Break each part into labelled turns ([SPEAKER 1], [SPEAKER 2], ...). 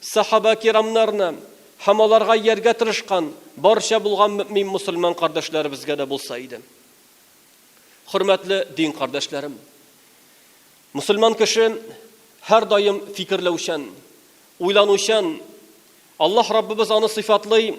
[SPEAKER 1] Сахаба-кирамнарны һәм аларга ияргә тырышкан барча булган мөэмин мөселман кардәшләребезгә дә булса иде. Хөрмәтле дин кардәшләрем! Мөселман кеше һәрдаим фикерләүчән, уйланучан. Аллаһ Раббыбыз аны сыйфатлый,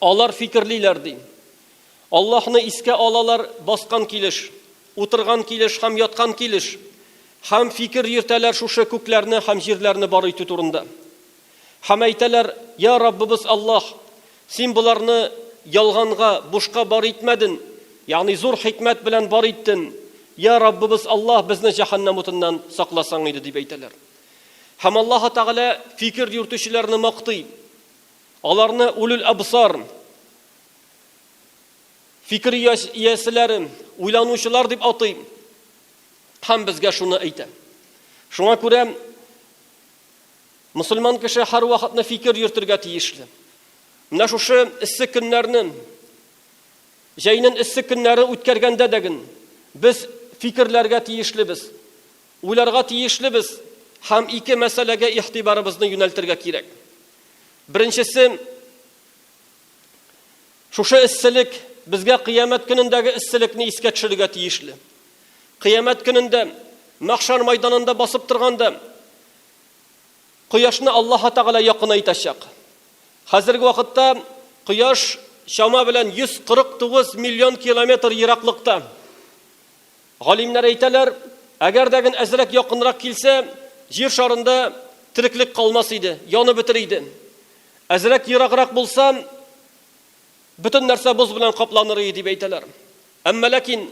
[SPEAKER 1] Алар фикерлиләр, ди. Аллаһны искә алалар баскан килеш, утырган килеш һәм яткан килеш, һәм фикер йөртәләр шушы күкләрне һәм җирләрне бар итү турында. Һәм әйтәләр, Йа Раббыбыз Аллаһ, Син боларны ялганга, бушка бар итмәден, ягъни зур хикмәт белән бар иттен. Йа Раббыбыз Аллаһ, безне җәһәннәм утыннан сакласаң иде, дип әйтәләр. Һәм Аллаһы Тәгалә фикер йөртүчеләрне мактый. Аларны Улюл Әбсар, фикер ияселәре, уйланучылар дип атый һәм безгә шуны әйтә. Шуңа күрә мөселман кеше һәрвакытны фикер йөртергә тиешле. Менә шушы эссе көннәрне, җәйнен эссе көннәре үткәргәндә дәген без фикерләргә тиешлебез. Уйларга тиешлебез һәм ике мәсьәләгә игътибарыбызны юнәлтергә кирәк. Беренчесе, шушы эсселек безгә Кыямәт көнендәге эсселекне искә төшерергә тиешле. Кыямәт көнендә, мәхшәр майданында басып торганда, кояшны Аллаһы Тәгалә якынайтачак. Хәзерге вакытта кояш чама белән 149 миллион километр ераклыкта. Галимнәр әйтәләр, әгәр дә гөн әзрәк якынрак килсә, Җир шарында тереклек калмас иде, янып бетер иде. Әзрәк ераграк булса, бөтен нәрсә боз белән капланыр иде, дип әйтәләр. Әмма ләкин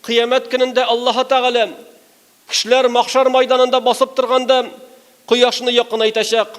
[SPEAKER 1] Кыямәт көнендә Аллаһы Тәгалә кешеләр Мәхшәр мәйданында басып торганда, кояшны якынайтачак.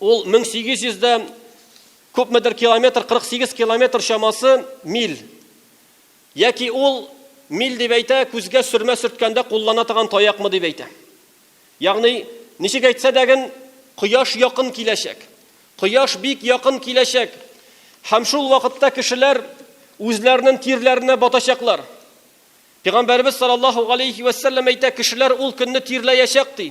[SPEAKER 1] Ул 1800 дә күпмедер километр, 48 километр чамасы миль. Яки ул миль дип әйтә, күзгә сөрмә сөрткәндә куллана торган таякмы дип әйтә. Ягъни, ничек әйтсә дәген, кояш якын киләчәк. Кояш бик якын киләчәк. Һәм шул вакытта кешеләр үзләренең тирләренә батачаклар. Пәйгамбәрбез саллаллаһу алейхи вәсәлләм әйтә, кешеләр ул көнне тирләячәк ди.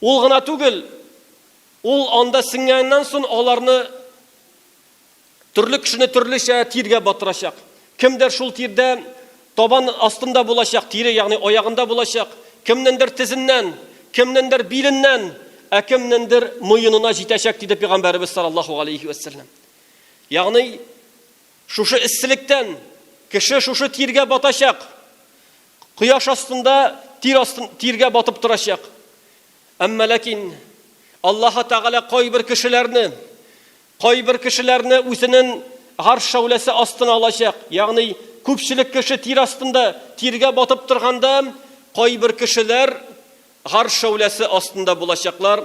[SPEAKER 1] Ул гына түгел, ул анда сеңгәннән сон аларны төрле кешене төрлечә тиргә батырачак. Кемдер шул тирдә табан астында булачак, тире, ягъни аягында булачак, кемнендер тезеннән, кемнендер биленнән, ә кемнендер муенына җитәчәк, диде пигамбәребез саллаллаһу галәйһи вә сәлләм. Ягъни шушы эсселектән кеше шушы тиргә батачак. Кояш астында тир астын тиргә батып торачак. Әмма ләкин Аллаһы Тәгалә кайбер кешеләрне, кайбер кешеләрне үзенен гарш шәүләсе астына алачак. Ягъни күпчелек кеше тир астында тиргә батып торганда, кайбер кешеләр Гарш шәүләсе астында булачаклар.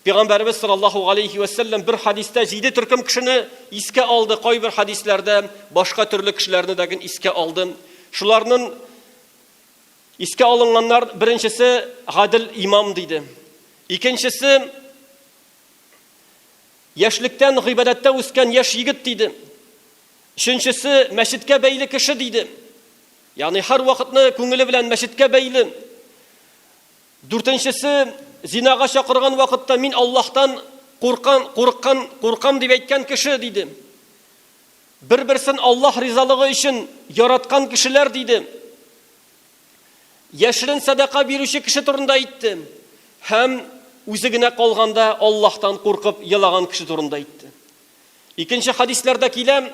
[SPEAKER 1] Пигамбәребез саллаллаһу галәйһи вә сәлләм бер хәдистә җиде төркем кешене искә алды, кайбер хәдисләрдә башка төрле кешеләрне дә гел искә алды. Шуларның искә алынганнар беренчесе гадел имам диде. Икенчесе яшьлектән гыйбадәттә үскән яшь егет диде. Өченчесе мәчеткә бәйле кеше диде. Ягъни һәрвакытны күңеле белән мәчеткә бәйле. Дүртенчесе, зинага чакырган вакытта мин Аллаһтан куркан, курыккан, куркам дип әйткән кеше, диде. Бер-берсен Аллаһ ризалыгы өчен яраткан кешеләр, диде. Яшерен садака бирүче кеше турында әйтте һәм үзе генә калганда Аллаһтан куркып елаган кеше турында әйтте. Икенче хадисларда килә,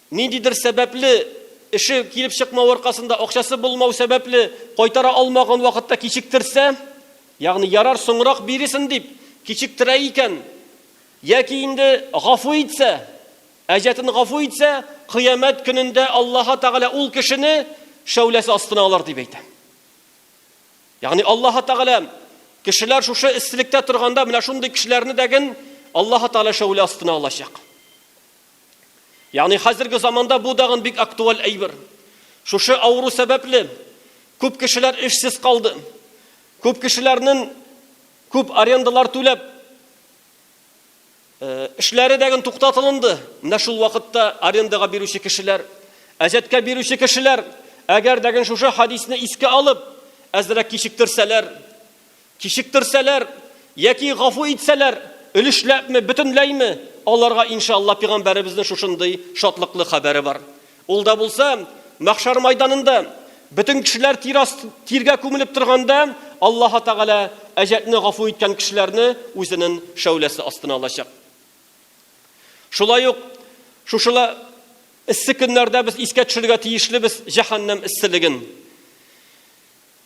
[SPEAKER 1] Ниндидер сәбәпле, эше килеп чыкмау аркасында, акчасы булмау сәбәпле, кайтара алмаган вакытта кичектерсә, ягъни ярар, соңрак бирерсен дип, кичектерә икән, яки инде гафу итсә, әҗәтен гафу итсә, кыямәт көнендә Аллаһы Тәгалә ул кешене шәүләсе астына алыр, дип әйтә. Ягъни Аллаһы Тәгалә кешеләр шушы эсселектә торганда, менә шундый кешеләрне дә ген Аллаһы Тәгалә шәүлә астына алачак. Ягъни хәзерге заманда бу дагын бик актуаль әйбер. Шушы авыру сәбәпле күп кешеләр эшсез калды. Күп кешеләрнең күп арендалар түләп э, эшләре дәген туктатылынды. Менә шул вакытта арендага бирүче кешеләр, әҗәткә бирүче кешеләр, әгәр дәген шушы хадисне искә алып, әзрәк кичектерсәләр, Кичектерсәләр, яки гафу итсәләр, өлешләпме, бөтенләйме, аларга, иншаалла, пигамбәребезнең шушындый шатлыклы хәбәре бар. Ул да булса, мәхшәр майданында, бөтен кешеләр тир аст, тиргә күмелеп торганда, Аллаһы Тәгалә әҗәтне гафу иткән кешеләрне үзенен шәүләсе астына алачак. Шулай ук, шушылы эссе көннәрдә без искә төшерергә тиешлебез җәһәннәм эсселеген.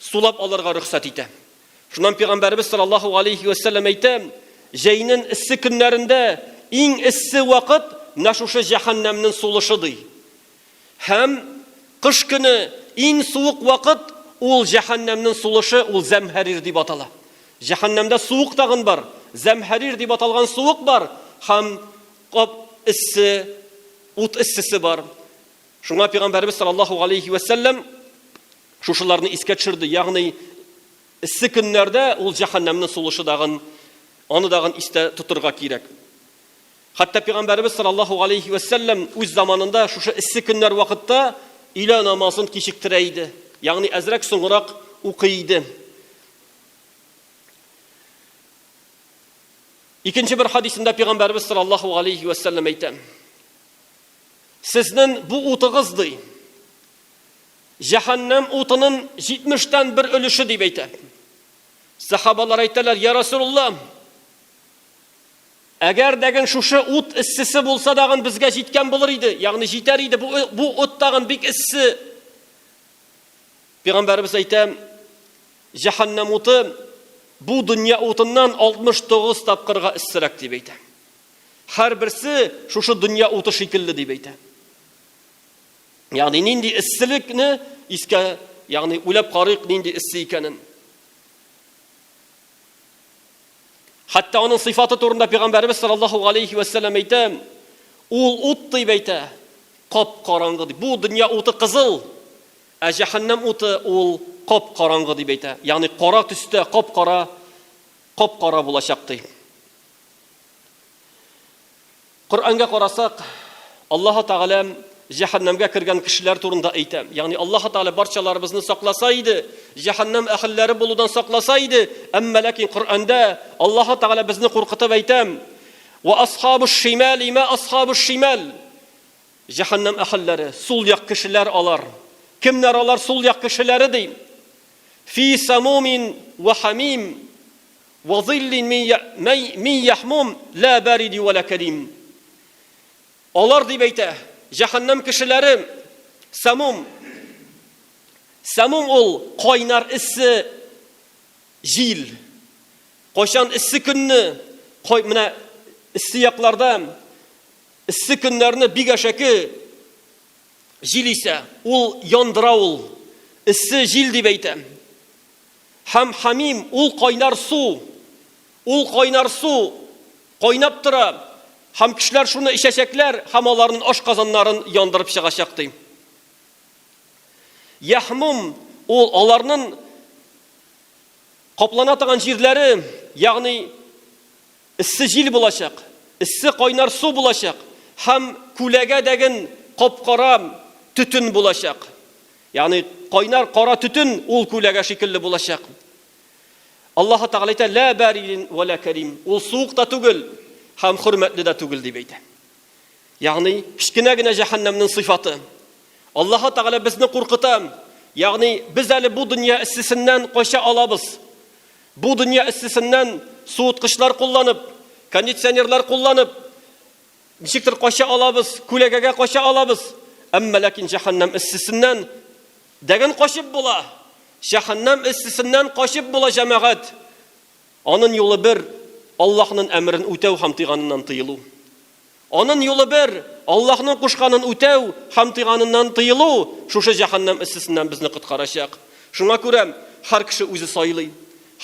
[SPEAKER 1] сулап алырга рөхсәт итә. Шуннан пәйгамбәребез саллаллаһу галәйһи вә сәлләм әйтә, җәйнен эссе көннәрендә иң эссе вакыт менә шушы җәһәннәмнен сулышы ди. Һәм кыш көне иң суык вакыт ул җәһәннәмнен сулышы ул зәмһәрир дип атала. Җәһәннәмдә суык тагын бар, зәмһәрир дип аталган суык бар һәм кап эссе, ут эссесе бар. Шуңа Пәйгамбәребез саллаллаһу галәйһи вә сәлләм шушыларны искә төшерде, ягъни эссе көннәрдә ул җәһәннәмнең сулышы дагын, аны дагын истә тотырга кирәк. Хәтта Пәйгамбәребез саллаллаһу галәйһи вә сәлләм үз заманында шушы эссе көннәр вакытта илә намазын кичектерә иде, ягъни әзрәк соңрак укый иде. Икенче бер хадисында Пәйгамбәребез саллаллаһу галәйһи вә сәлләм әйтә, Сезнен бу утыгыз, ди, җәһәннәм утынын җитмештән бер өлеше, дип әйтә. Сәхабалар әйтәләр, я Расулулла, әгәр дәген шушы ут эссесе булса дагын безгә җиткән булыр иде, ягъни җитәр иде, бу, бу ут тагын бик эссе. Пигамбәрбез әйтә, җәһәннәм уты бу дөнья утыннан 69 тапкырга эссерәк, дип әйтә. Һәрберсе шушы дөнья уты шикелле дип әйтә. Ягъни нинди эсселекне искә, ягъни уйлап карыйк нинди эссе икәнен. Хәтта аның сыйфаты турында пәйгамбәрбез саллаллаһу алейхи ва саллям әйтә, ул ут дип әйтә, кап караңгы дип. Бу дөнья уты кызыл, ә җәһәннәм уты ул кап караңгы дип әйтә. Ягъни кара төстә, кап кара, кап кара булачак ди. Коръәнгә карасак, Аллаһ Тәгалә җәһәннәмгә кергән кешеләр турында әйтә. Ягъни Аллаһ Тәгалә барчаларыбызны сакласа иде, җәһәннәм әһелләре булудан сакласа иде, әмма ләкин Коръәндә Аллаһ Тәгалә безне куркытып әйтә. Ва асхабуш шимал има асхабуш шимал. Җәһәннәм әһелләре, сул як кешеләр алар. Кемнәр алар сул як кешеләре ди? Фи самумин ва хамим. Вә зиллин мин яһмум лә бәриди вә лә кәрим. Алар дип әйтә, җәһәннәм кешеләре, сәмум. Сәмум ул кайнар эссе җил. Кайчан эссе көнне, менә эссе якларда эссе көннәрне бик әшәке җил исә, ул яндыра ул. Эссе җил дип әйтә. Һәм Хәмим, ул кайнар су. Ул кайнар су кайнап тора, һәм кешеләр шуны эчәчәкләр, һәм аларнын ашказаннарын яндырып чыгачак, ди. Яһмум, ул аларнын каплана торган җирләре, ягъни эссе җил булачак, эссе кайнар су булачак, һәм күләгә дәген кап-кара төтен булачак. Ягъни кайнар кара төтен ул күләгә шикелле булачак. Аллаһы Тәгалә әйтә, Лә бәридин вә лә кәрим. Ул суык та түгел һәм хөрмәтле дә түгел, дип әйтә. Ягъни, кечкенә генә җәһәннәмнең сыйфаты. Аллаһы Тәгалә безне куркыта. Ягъни, без әле бу дөнья эссесеннән кача алабыз. Бу дөнья эссесеннән суыткычлар кулланып, кондиционерлар кулланып, Ничектер кача алабыз, күләгәгә кача алабыз. Әмма ләкин җәһәннәм эссесеннән дәген качып була. Җәһәннәм эссесеннән качып була, җәмәгать. Анын юлы бер, Аллаһнын әмерен үтәү һәм тыйганыннан тыелу. Анын юлы бер, Аллаһнын кушканын үтәү һәм тыйганыннан тыелу шушы җәһәннәм эссесеннән безне коткарачак. Шуңа күрә һәр кеше үзе сайлый.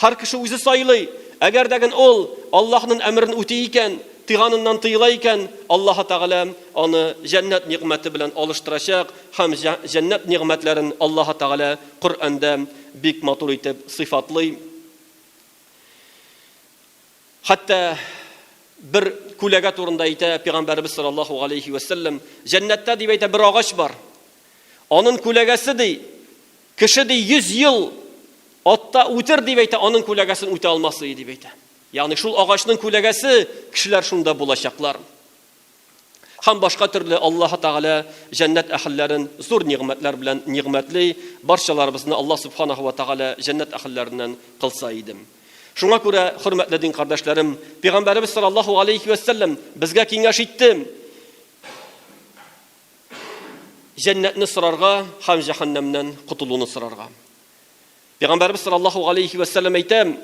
[SPEAKER 1] Һәр кеше үзе сайлый. Әгәр дә гын ул Аллаһнын әмерен үти икән, тыйганыннан тыела икән, Аллаһы Тәгалә аны җәннәт нигъмәте белән алыштырачак һәм җәннәт нигъмәтләрен Аллаһы Тәгалә Коръәндә бик матур итеп сыйфатлый. Хәтта бер күләгә турында әйтә Пигамбәребез саллаллаһу галәйһи вә сәлләм, Җәннәттә дип әйтә бер агач бар. Анын күләгәсе ди, Кеше, ди, йөз ел атта үтер, дип әйтә, аның күләгәсен үтә алмас ие, дип әйтә. Ягъни шул агачның күләгәсе, кешеләр шунда булачаклар. Һәм башка төрле Аллаһ Тәгалә җәннәт әһелләрен зур нигъмәтләр белән нигъмәтли, барчаларыбызны Аллаһ Субханаһу ва Тәгалә җәннәт әһелләреннән кылса иде. Шуңа күрә, хөрмәтле дин кардәшләрем, Пәйгамбәребез саллаллаһу галәйһи вә сәлләм безгә киңәш итте, җәннәтне сорарга һәм җәһәннәмнән котылуны сорарга. Пәйгамбәрбез саллаллаһу алейхи вә сәлләм әйтә,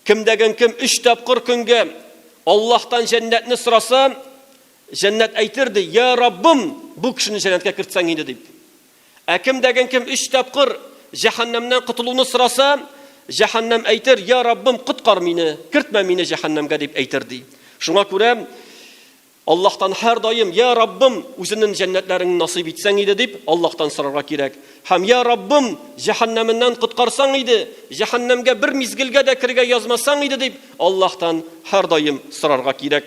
[SPEAKER 1] кемдәген кем өч тапкыр көнгә Аллаһтан җәннәтне сораса, җәннәт әйтер ди, я Раббым, бу кешене җәннәткә кертсәң инде дип. Ә кемдәген кем өч тапкыр җәһәннәмнән котылуны сораса, җәһәннәм әйтер, я Раббым, коткар мине, кертмә мине җәһәннәмгә дип әйтер ди. Шуңа күрә Аллаһтан һәрдаим, Йә Раббым, үзеннен җәннәтләреңне насыйп итсәң иде, дип, Аллаһтан сорарга кирәк. Һәм, Йә Раббым, җәһәннәменнән коткарсаң иде, җәһәннәмгә бер мизгелгә дә керергә язмасаң иде, дип, Аллаһтан һәрдаим сорарга кирәк.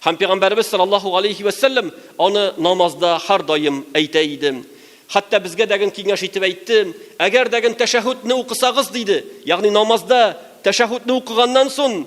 [SPEAKER 1] Һәм Пәйгамбәребез саллаллаһу галәйһи вә сәлләм аны намазда һәрдаим әйтә иде. Хәтта безгә дәген киңәш итеп әйтте, Әгәр дәген тәшәһүдне укысагыз, диде, ягъни намазда тәшәһүдне укыганнан сон,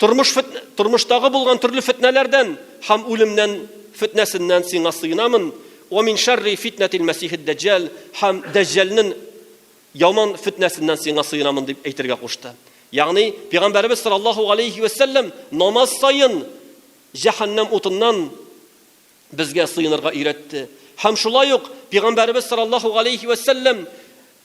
[SPEAKER 1] Тормыш фет, тормыштагы булган төрле фетнәләрдән һәм үлемнән фетнәсеннән сиңа сыенамын. Ва мин шарри фитнәтил мәсихид дәҗҗәл һәм дәҗҗәлнен яман фетнәсеннән сиңа сыенамын дип әйтергә кушты. Ягъни пәйгамбәребез саллаллаһу алейхи ва сәлләм намаз саен җәһәннәм утыннан безгә сыенырга өйрәтте. Һәм шулай ук пәйгамбәребез саллаллаһу алейхи ва сәлләм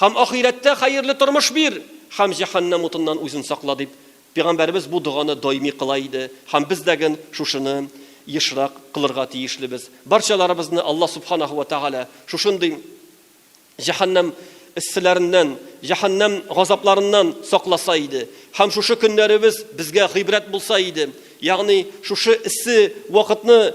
[SPEAKER 1] Һәм ахирәттә хәерле тормыш бир һәм җәһәннәм утыннан үзен сакла, дип, пәйгамбәребез бу доганы даими кыла иде һәм без дәген шушыны ешрак кылырга тиешлебез. Барчаларыбызны Алла Субханаһу вә Тәгалә шушындый җәһәннәм эсселәреннән, җәһәннәм газапларыннан сакласа иде һәм шушы көннәребез безгә гыйбрәт булса иде, ягъни шушы эссе вакытны